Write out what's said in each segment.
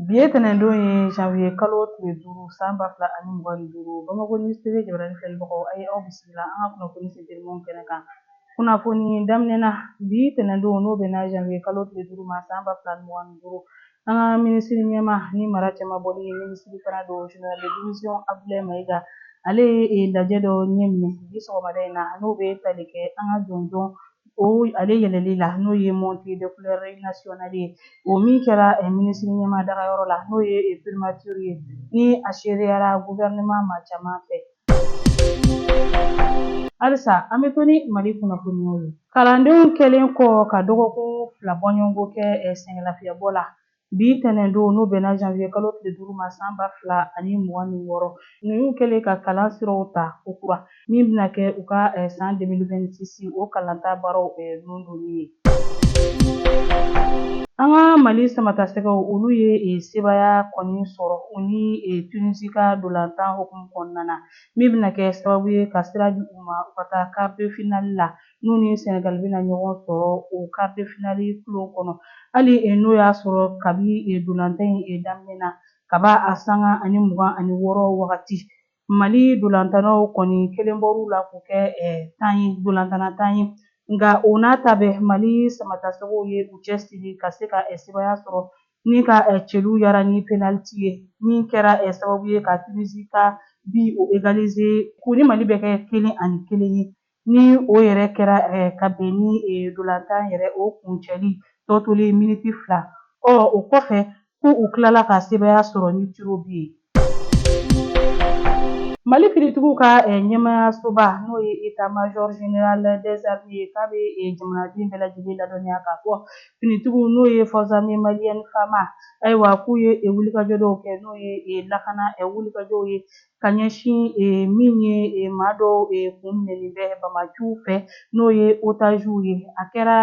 Bi ye tɛnɛndon ye janvier kalo tile duuru san ba fila ani mugan ni duuru Bamakɔ News TV jabarani filɛbagaw a ye aw bisimila an ka kunnafoni sentelɛmanw kɛnɛ kan. Kunnafoni daminɛ na bi tɛnɛndon n'o bɛnna janvier kalo tile duuru ma san ba fila ani mugan ni duuru an ka minisiri ɲɛmaa ni mara cɛmabɔli ye minisiri fana don général de division Abdulaye Mayiga ale ye lajɛ dɔ ɲɛminɛ bi sɔgɔmada in na n'o bɛ tali kɛ an ka jɔnjɔn o ale yɛlɛli la n'o ye montée de couleur nationale ye o min kɛra minisiri ɲɛmaa dagayɔrɔ la n'o ye primature ye ni a sereyara gouvernement maa caman fɛ halisa an bɛ to ni mali kunnafoniyaw ye kalandenw kɛlen kɔ ka dɔgɔkun fila bɔɲɔgɔnko kɛ sɛgɛnlafiyɛbɔ la Bi tɛnɛndon n'o bɛnna janvier kalo tile duuru ma san ba fila ani mugan ni wɔɔrɔ, ninnu kɛlen ka kalan siraw ta kokura, min bɛna kɛ u ka san 2026 o kalanta baaraw nɔndonni ye. An ka Mali samatasɛgɛw, olu ye sebaaya kɔni sɔrɔ u ni Tunisie ka dolantan hukumu kɔnɔna na, min bɛna kɛ sababu ye ka sira di u ma u ka taa quart de finale la n'u ni Senegal bɛna ɲɔgɔn sɔrɔ o quart de finale kulon kɔnɔ hali n'o y'a sɔrɔ kabi dolantan in daminɛ na kaba a sanga ani mugan ani wɔɔrɔ wagati Mali dolantannaw kɔni kelen bɔr'u la k'u kɛ dolantanna tan ye nka o n'a ta bɛɛ Mali samatasɛgɛw ye u cɛsiri ka se ka sebaaya sɔrɔ ni ka celu yara ni penalty ye min kɛra sababu ye ka Tunisie ka bi o égaliser k'u ni Mali bɛɛ kɛ kelen ani kelen ye Ni o yɛrɛ kɛra ka bɛn ni dolantan yɛrɛ o kuncɛli tɔ tolen miniti fila, ɔ o kɔfɛ ko u tilala ka sebaaya sɔrɔ ni tirs au but ye. Mali finitigiw ka ɲɛmaayasoba n'o ye État Major Général des Armées ye k'a bɛ jamanaden bɛɛ lajɛlen ladɔnniya k'a fɔ finitigiw n'o ye Forces Armées Maliennes, FAMA, ayiwa k'u ye wulikajɔ dɔw kɛ n'o ye lakana wulikajɔw ye ka ɲɛsin min ye maa dɔw kun minɛlen bɛ bamaciw fɛ n'o ye otaziw ye a kɛra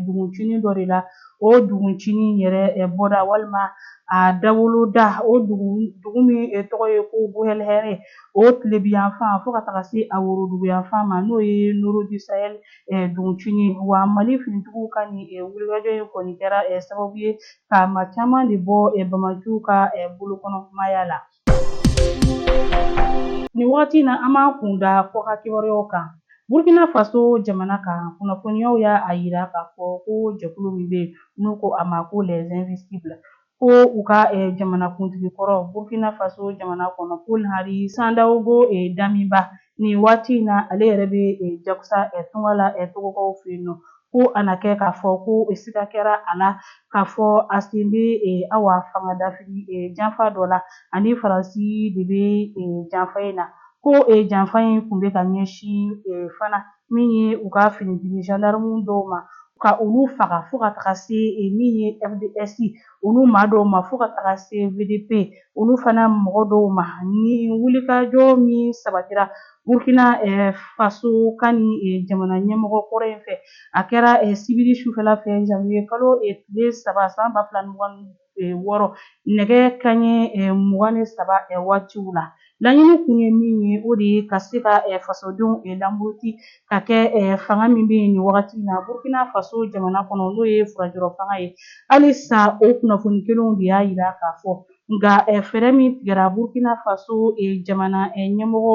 duguncinin dɔ de la o duguncinin yɛrɛ bɔda walima a dawoloda o dugu min tɔgɔ ye ko Buhɛlhɛrɛ o tilebiyanfan fo ka taga se a woroduguyanfan ma n'o ye Nioro du Sahel duguncinin wa mali finitigiw ka nin wulikajɔ in kɔni kɛra sababu ye ka maa caman de bɔ bamaciw ka bolokɔnɔmaaya la Nin wagati na an b'an kun da kɔkan kibaruyaw kan burkina faso jamana kan kunnafoniyaw y'a yira k'a fɔ ko jɛkulu min bɛ n'u ko a ma ko les invisibles ko u ka jamanakuntigi kɔrɔ burkina faso jamana kɔnɔ paul henri sandaogo damiba nin waati in na ale yɛrɛ bɛ jakusa tunga la togokaw fɛ yen nɔ ko a na kɛ k'a fɔ ko siga kɛra a la k'a fɔ a sen bɛ awa fangadafiri janfa dɔ la ani faransi de bɛ janfa in na ko janfa in tun bɛ ka ɲɛsin fana min ye u ka finitigi zandarimu dɔw ma ka olu faga fo ka taga se min ye fdsi olu maa dɔw ma fo ka taga se vdp olu fana mɔgɔ dɔw ma ni wulikajɔ min sabatira burkina faso kan nin jamana ɲɛmɔgɔ kɔrɔ in fɛ a kɛra sibiri sufɛla fɛ janvier kalo tile saba san ba fila mugan wɔɔrɔ nɛgɛ kanɲɛ mugan ni saba waatiw la laɲini kun ye min ye o de ye ka se ka fasodenw lamuruti ka kɛ eh, fanga min bɛ yen nin wagati in na Burkina Faso jamana kɔnɔ n'o ye furajɔrɔ fanga ye halisa o kunnafoni kelenw de y'a yira k'a fɔ nka eh, fɛɛrɛ min tigɛra Burkina Faso eh, jamana eh, ɲɛmɔgɔ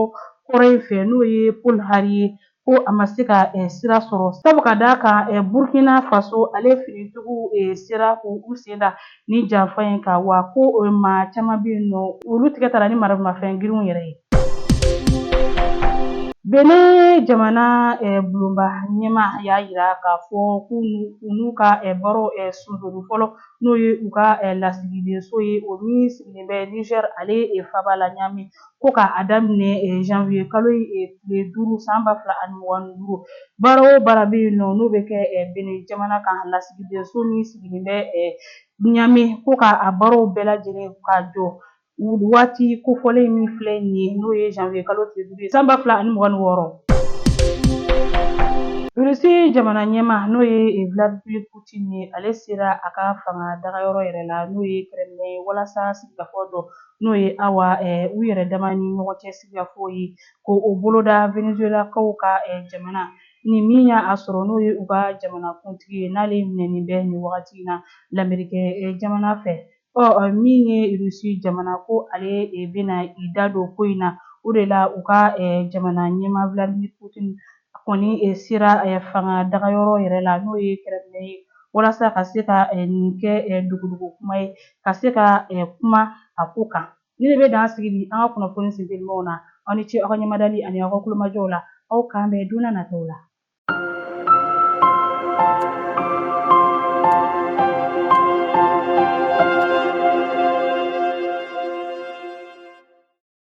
kɔrɔ in fɛ n'o ye Paul Henri ye ko a ma se ka eh, sira sɔrɔ sabu ka d'a kan eh, Burkina Faso ale finitigiw eh, sera k'u sen da Nin janfa in kan wa ko maa caman bɛ yen nɔ olu tigɛ tara ni maramafɛn girinw yɛrɛ ye Benin jamana bulonba ɲɛmaa y'a yira k'a fɔ k'u n'u ka baaraw sonsoro fɔlɔ n'o ye u ka lasigidenso ye o min sigilen bɛ Niger ale faaba la Niamey ko ka a daminɛ eh, janvier kalo eh, tile duuru san ba fila ani mugan ni duuru baara o baara bɛ yen nɔ n'o bɛ kɛ eh, Benin jamana ka lasigidenso min sigilen bɛ Ɲame ko ka a baaraw bɛɛ lajɛlen ka jɔ waati kofɔlen min filɛ nin ye n'o ye janvier kalo tile duuru ye san ba fila ani mugan ni wɔɔrɔ. Rusi jamana ɲɛmaa n'o ye Vladimir Putin ye ale sera a ka fanga dagayɔrɔ yɛrɛ la n'o ye Kremlin ye walasa sigikafɔ dɔ n'o ye awa u yɛrɛ dama ni ɲɔgɔn cɛ sigikafɔ ye k'o boloda venezuelakaw ka jamana nin min y'a sɔrɔ n'o ye u ka jamana kuntigi ye n'ale minɛnen bɛ nin wagati in na lamerikɛ jamana fɛ ɔ min ye rusi jamana ko ale bɛna i da don ko in na o de la u ka jamana ɲɛmaa vladimir putin A kɔni sera fanga daga yɔrɔ yɛrɛ la n'o ye Kremlin ye walasa ka se ka nin kɛ dugudugu kuma ye ka se ka kuma a ko kan nin de bɛ dan sigi bi an ka kunnafoni sen telimaw na aw ni ce aw ka ɲɛmadali ani aw ka kulomajɔw la aw k'an bɛn don n'a nataw la